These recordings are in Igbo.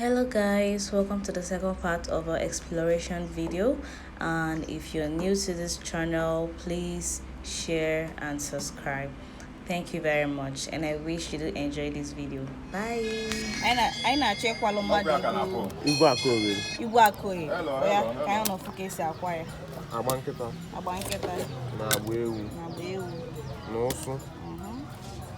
Hello guys, welcome to the second part of our exploration video and if you're new to this channel, please share and subscribe. Thank you very much and I wish you do enjoy this video. Bye! Anyị na-achọ ịkwalụ mmadụ Igwe Akoye. Igwe Akoye. Ya ka anyị nọ fụ ka esi akwa ya. Agba nkịta. Agba nkịta. Na agba ewu. Na agba ewu. Na ụsụ.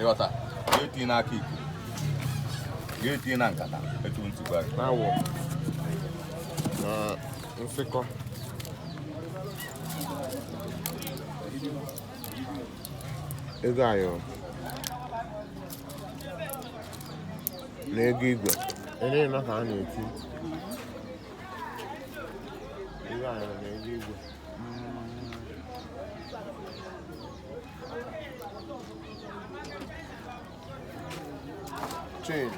ịghọta ga-eti n'aka iko ga-eti na nkata etu ntị gwa gị awọ na nsịkọ ego ayọrọ na ego igwe ele na ka a na-eti ego ayọrọ na ego igwe Chain.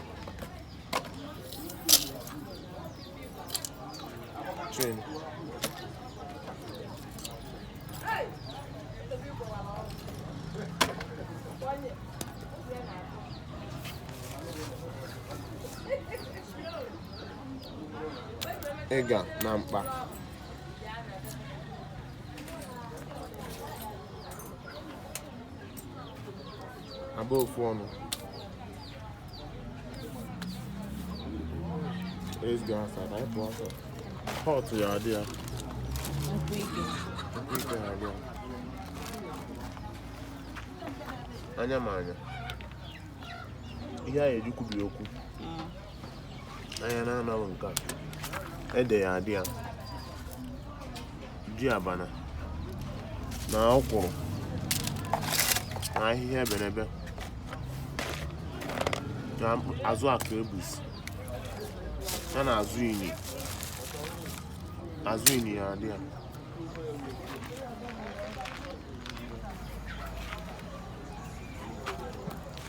Chain. ịga na mkpa agba ofu ọnụ Let's go outside. I go outside. Hot to your idea. Anya m anya. Ihe anyị eji kwubi okwu. anya na-anaghị nke a ede ya adị ya ji abana na ọkwụrụ na ahịhịa ebenebe na azụ akụ ebusi ya na azụ inyi azụ inyi ya adị ya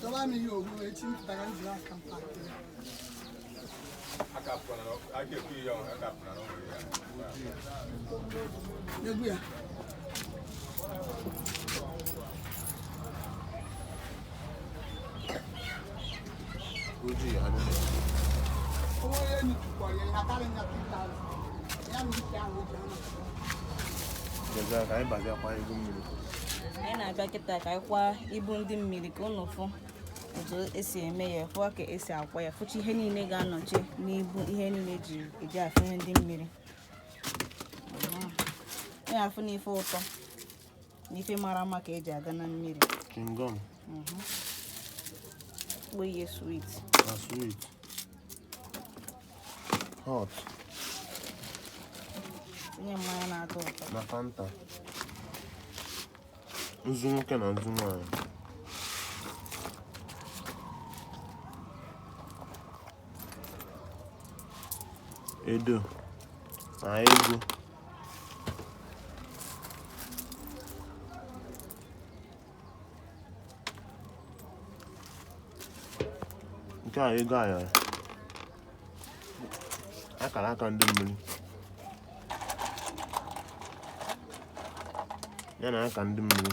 Dọba m ihe ogbu echi m pụtara m jiri aka m pakị. Egwu ya. anyị na-abịa kịta ka anyị kwaa ibu ndị mmiri ka unu fụ otu esi eme ya fụọ ka esi akwa ya fụcha ihe niile ga-anọcha n'ibu ihe niile ji eji afụnye ndị mmiri ya afụ n'ife ụtọ n'ife mara mma ka eji aga na mmiri kingdom mhm. kpọ ihe sweet na sweet hot tinye mmanya na-atọ ụtọ na fanta nzu nwoke na nzu nwaanyị edo na ego nke a ego ayọrọ akara aka ndị mmiri ya na aka ndị mmiri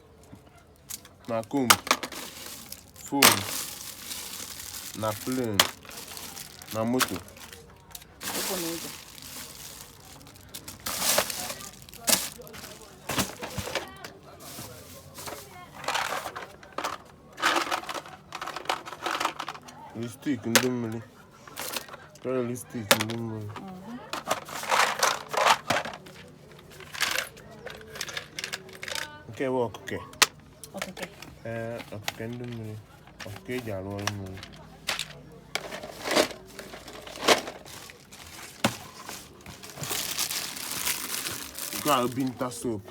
na comb phone na plane na moto ụkwụ na ụzọ lipstick ndị mmiri Lipstick ndị mmiri. Nke bụ ọkụke. Ọkụke. Ee, ọkụke ndị mmiri. Ọkụke eji arụ ọrụ mmiri. Nke a bụ binta soap.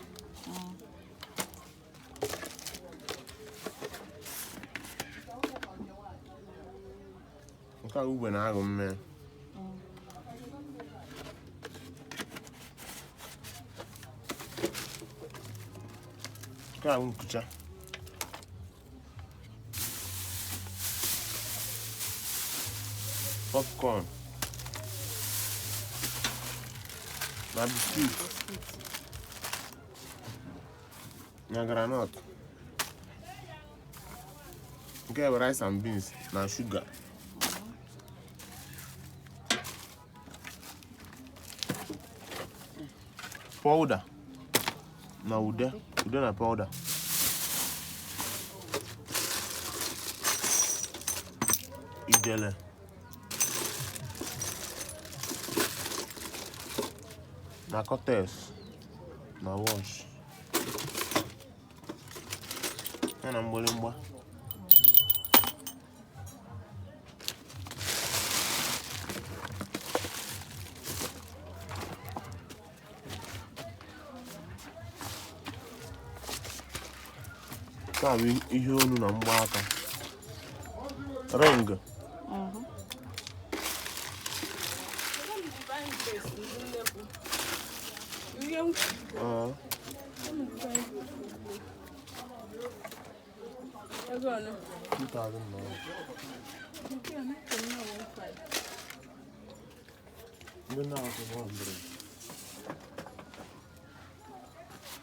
Nke a ugbe na-aghọ mme. Nke a nkucha. Popcorn. Na biskit. na groundnut nke bụ rice and beans na sugar powder na ude ude na powder ijele na cortex na watch ya na mgbịrịmgba na ihe olu na mgbaaka ring Good night,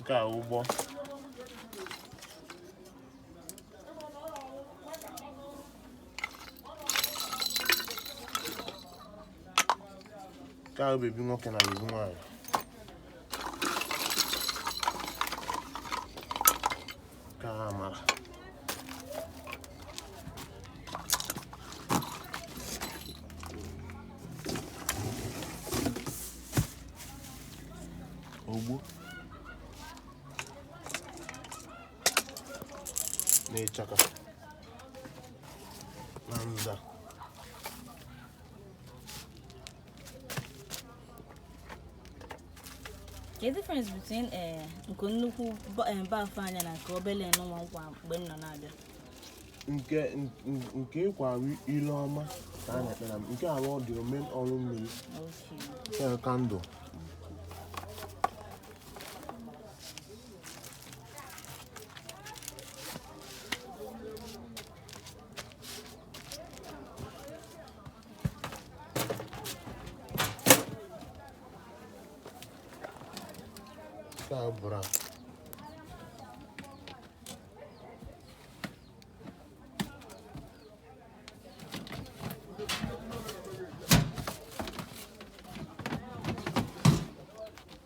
nke a ọ bụ nke a bebi nwoke na bebi nwaanyị Camera. Ogbo. N'ịchaka. Na nza. Kedu difference between eh, nke nnukwu ba- eh, bafu anya na nke obele nwa nkwa mgbe m nọ na-abịa nke n- nke ịkwa arụ ile ọma ka a na-ekpe na m nke arụ ọ dị omen ọrụ mmiri Okay. ya kandụl Sabra.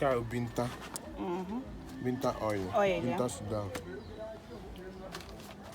nke a binta binta oil Oil, ya. binta sudan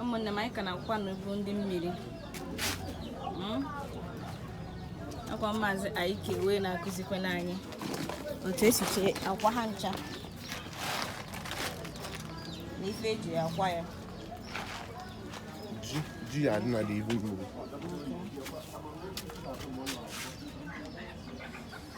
ụmụnne m anyị ka na-akwụkwa n'okwu ndị mmiri hmm? ka maazị Iyke wee na-akụzikwa anyị otu esi kee akwa ha ncha na ife eji akwa ya ji ya adị na ihu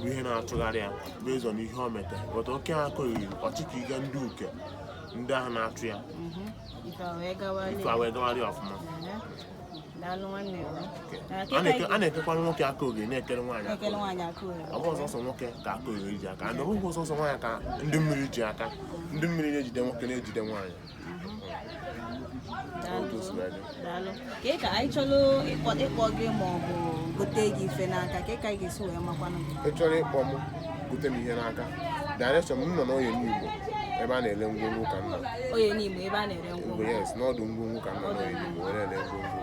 bụ ihe na-achụgharị ya n'ụzọ na ihe o meta bụta oke ha akụghị ọchịka ịga ndị uke ndị ahụ na-achụ ya ife a wee gawa ife a wee gawara ya ọfụma daalụ nwanne m. Na A kịta na-eke- a na-ekekwara nwoke aka oge na-ekere nwaanyị aka ekele oge. nwaanyị aka ohere. ọ bụrọ sọsọ nwoke ka aka oge ji aka na ọ bụghị sọsọ nwaanyị ka ndị mmiri ji aka ndị mmiri na-ejide nwoke na-ejide nwaanyị ka ka anyị chọrọ ịkpọ gị ma ọ bụ gote gị ife n'aka kee ka anyị ga-esi wee makwanụ gị ị chọrọ ịkpọ m gote m ihe n'aka direction m nọ n'Oye Nibo ebe a na-ele ngwongwo ka nna Oye Nibo ebe a na-ele ngwongwo yes n'ọdụ ngwongwo ka nna n'Oye Nibo were ele ngwongwo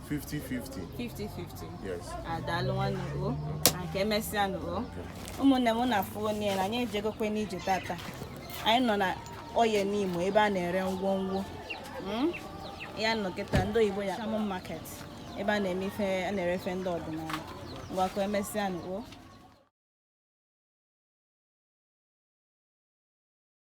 50-50. 50-50. Yes. A daalụ nwanne o. Ngwa ka emesịa nụ o. Ụmụnne m na-afụ onye na anyị ejegokwe n'ije tata. Anyị nọ na Oye Nimo ebe a na-ere ngwongwo. Hmm? Ya nọ kịta ndị oyibo ya Shamu Market ebe a na-eme ife a na-ere ife ndị ọdịnala. Ngwa ka emesịa nụ o.